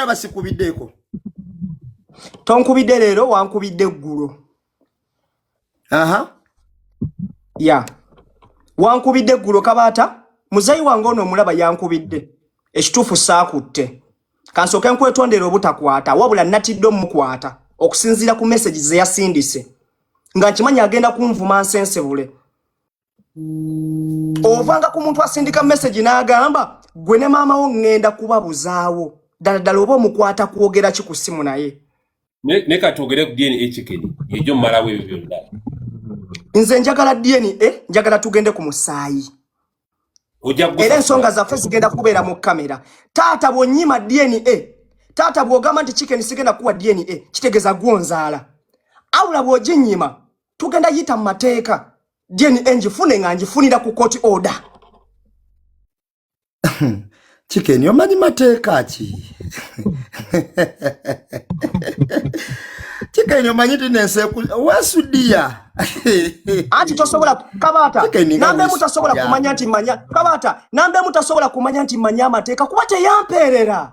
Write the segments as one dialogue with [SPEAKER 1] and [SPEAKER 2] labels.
[SPEAKER 1] ndaba sikubiddeko
[SPEAKER 2] tonkubidde leero wankubidde eggulo
[SPEAKER 1] aha
[SPEAKER 2] ya wankubidde eggulo kabaata muzeyi wange ono omulaba yankubidde ekituufu saakutte kansooke nkwetondera obutakwata wabula natidde omukwata okusinziira ku mesagi zeyasindise nga nkimanyi agenda kunvuma nsensebule ovanga ku muntu asindika message n'agamba gwe ne maama wo ŋŋenda kubabuzaawo ddala ddala oba omukwata kwogera ki ku ssimu naye ne ka
[SPEAKER 3] twogere ku dna ekikeni egyo mumalawo ebyo byonna nze
[SPEAKER 2] njagala dna eh, njagala tugende ku musaayi era ensonga zaffe zigenda kubeera mu kamera taata bwonyima dna eh, taata bwogamba nti kikeni sigenda kuwa dna eh, kitegeeza gwonzaala awula bwoginyima tugenda yita mu mateeka dna ngifune nga ngifunira ku court order
[SPEAKER 1] kikeni omanyi mateeka ki kikeni omanyi ti nensi wesudiya
[SPEAKER 2] anti tosobola kabata nambe mutasobola kumanya nti manya kabata nambe mutasobola kumanya nti manya amateeka kuba teyampeerera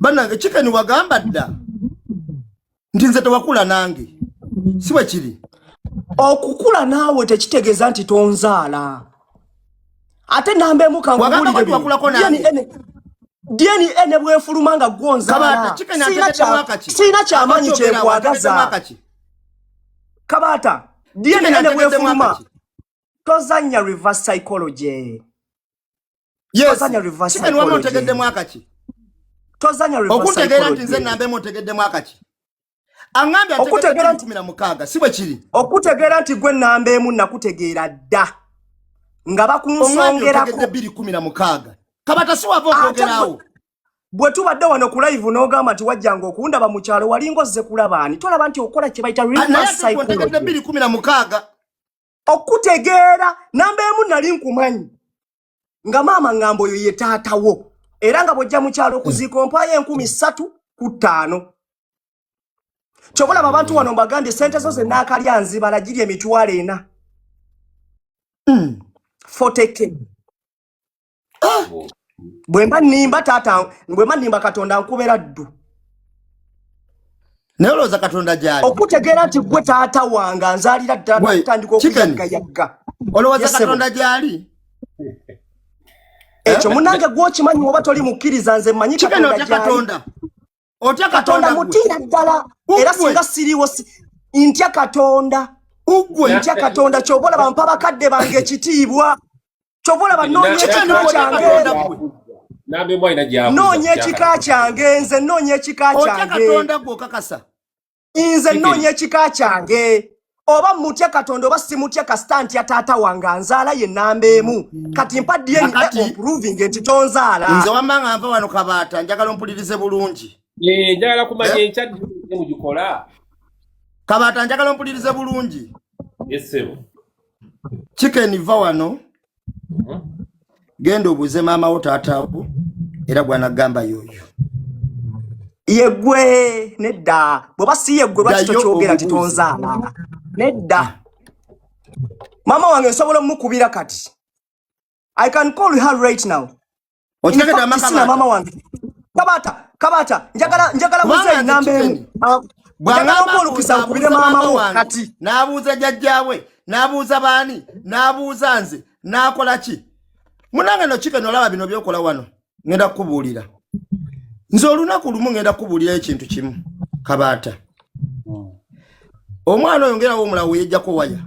[SPEAKER 3] banange
[SPEAKER 1] chicken wagamba dda nti nze tewakula nange si bwe kiri okukula
[SPEAKER 2] naawe tekitegeeza nti tonzaala ate namba emu dna ne bwefuluma nga gwonzaalasiina kyamanyi kyekwagaza kabaata dna ne bwefuluma tozanya reverse psychology
[SPEAKER 1] tozanya reverse psychology
[SPEAKER 2] tozanya reverse
[SPEAKER 1] psychology
[SPEAKER 2] okutegera nti nze nambe
[SPEAKER 1] mutegedde mwaka ki angambye okutegera nti mina mukaga sibwe kiri okutegera nti gwe
[SPEAKER 2] nambe emu nakutegera dda nga bakunsongera ko 2016
[SPEAKER 1] kabata si wava okwogerawo bwe tubadde
[SPEAKER 2] wano ku live n'ogamba nti wajjanga okundaba mu kyalo walinga ozze kulaba ani tolaba nti okola kye bayita reverse psychology okutegeera namba emu nali nkumanyi nga maama ngamba oyo ye taatawo era nga bwojja mukyalo okuziika ompayo enkumi ssatu ku ttaano kyobalaba abantu wano mbagambye sente zo zenaakalya nzibala giri emitwalo ena mm. foteke Ah! bwemba nimba taata bwemba nimba katonda nkubera ddu
[SPEAKER 1] naye olowooza katonda gyali okutegeera nti gwe
[SPEAKER 2] taata wange anzaalira ddala kutandika okuyaggayagga olowooza katonda
[SPEAKER 1] gyali
[SPEAKER 2] ekyo eh? munange gwokimanyi oba toli mukkiriza nze manyi katonda otya
[SPEAKER 1] katonda mutiira ddala
[SPEAKER 2] era singa siriiwo ntya katonda ugwe ntya katonda kyobola bampa bakadde bange ekitiibwa kyova olaba noonya
[SPEAKER 3] ekika
[SPEAKER 2] kyange nze noonya ekika kyange
[SPEAKER 1] nze
[SPEAKER 2] noonya ekika kyange oba mutya katonda oba simutya kasita ntya taata wange anzaala ye namba emu mm. kati mpa dna omproving nti tonzaala nze wamba nga nva wano
[SPEAKER 1] kabaata njagala ompulirize bulungi eh, njagala kumanya
[SPEAKER 3] eh? enkyadmugikola
[SPEAKER 1] kabaata njagala ompulirize bulungi esebo kikeni va wano mhm. genda obuuze maama wo taatawo era gwanagamba yoyo yegwe
[SPEAKER 2] nedda bweba si yegwe lwaki tokyogera nti tonzaala nedda ah. maama wange nsobola omukubira kati I can call her right now. Okitaka da
[SPEAKER 1] maka na mama wange.
[SPEAKER 2] Kabata, kabata, njagala njagala mzee nambe. Ah, Bwana mkulu kisa kubire mama wo kati. Nabuza jajjawe,
[SPEAKER 1] nabuza bani, nabuza nze, nakola ki? Munanga no chicken olaba bino byokola wano. Ngenda kubulira. Nze olunaku lumu ngenda kubulira ekintu kimu. Kabata. Hmm. Omwana oyongera wo mulawo yejja ko waya.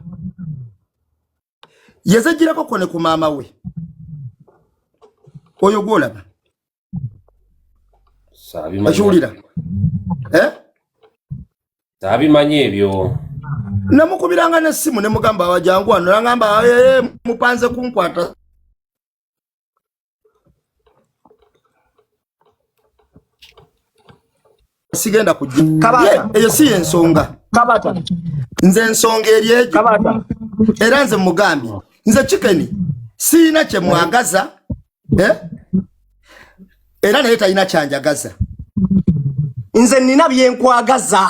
[SPEAKER 1] yazajjirako kone ku maama we oyo gwolaba akiwulira eh?
[SPEAKER 3] tabimanyi ebyo namukubiranga
[SPEAKER 1] nesimu nemugamba wajangu wano nangamba eh, eh, mupanze kunkwata sigenda kujja kabata eyo si
[SPEAKER 2] ensonga
[SPEAKER 1] kabata
[SPEAKER 2] nze
[SPEAKER 1] ensonga eri ejo kabata
[SPEAKER 2] era nze
[SPEAKER 1] mugambi nze chicken siina kye mwagaza eh? era naye talina kyanjagaza
[SPEAKER 2] nze nina byenkwagaza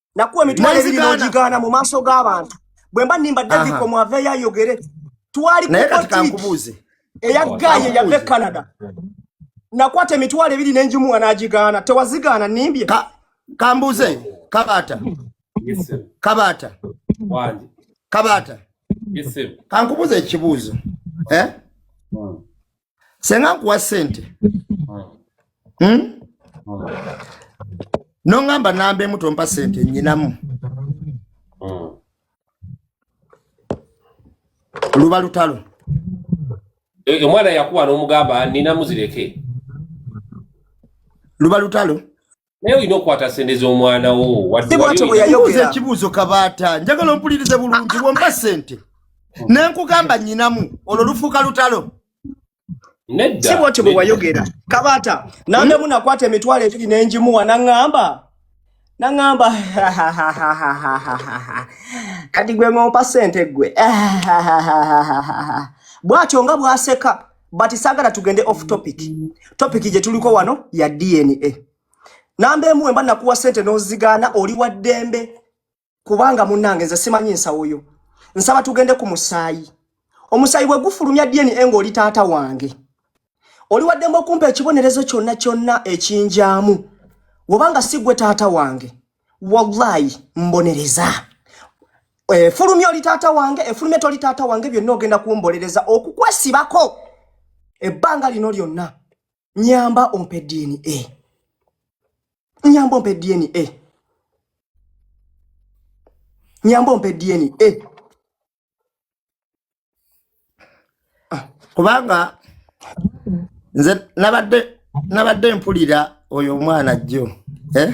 [SPEAKER 2] nakuwa emitwalo ebiri n'ogigaana mu maaso g'abantu bwe mba nimba daviko mwaveeyo ayogere twali kukotiiki eya
[SPEAKER 1] gaye
[SPEAKER 2] yava e canada nakwata emitwalo ebiri n'enjimuwa n'agigaana tewazigaana nimbye kambuuze
[SPEAKER 1] kabaata kabaata kabaata kankubuuza ekibuuzo eh? hmm. senga nkuwa sente hmm? nongamba namba emu tompa sente nyinamu luba lutalo
[SPEAKER 3] e, omwana yakuwa nomugamba ninamu zireke
[SPEAKER 1] luba lutalo naye olina okukwata
[SPEAKER 3] sente z'omwana wo waddebuuza
[SPEAKER 1] ekibuuzo kabaata njagala ompulirize bulungi womba sente nenkugamba nyinamu olwo lufuuka lutalo
[SPEAKER 2] si bwotyo bwe wayogera kabaata nandemu nakwata emitwalo ebiri nenjimuwa naŋŋamba naŋŋamba kati gwe ng'ompa sente gwe bwatyo nga bwaseka but sagala tugende off topic topic gye tuliko wano ya dna namba emu wemba nakuwa sente nozigaana oli wa ddembe kubanga munange nze simanyi nsawo yo nsaba tugende ku musaayi omusaayi bwe gufulumya dna nga oli taata wange oli wa ddembe okumpa ekibonerezo kyonna kyonna ekinjaamu wobanga si gwe taata wange wallahi mbonereza efulumya oli taata wange efulumya toli taata wange byonna ogenda kumbolereza okukwesibako ebbanga lino lyonna nyamba ompe dna nyamba ompe dna nyamba ompe dna ah.
[SPEAKER 1] kubanga nze nabadde mpulira oyo omwana jjo eh?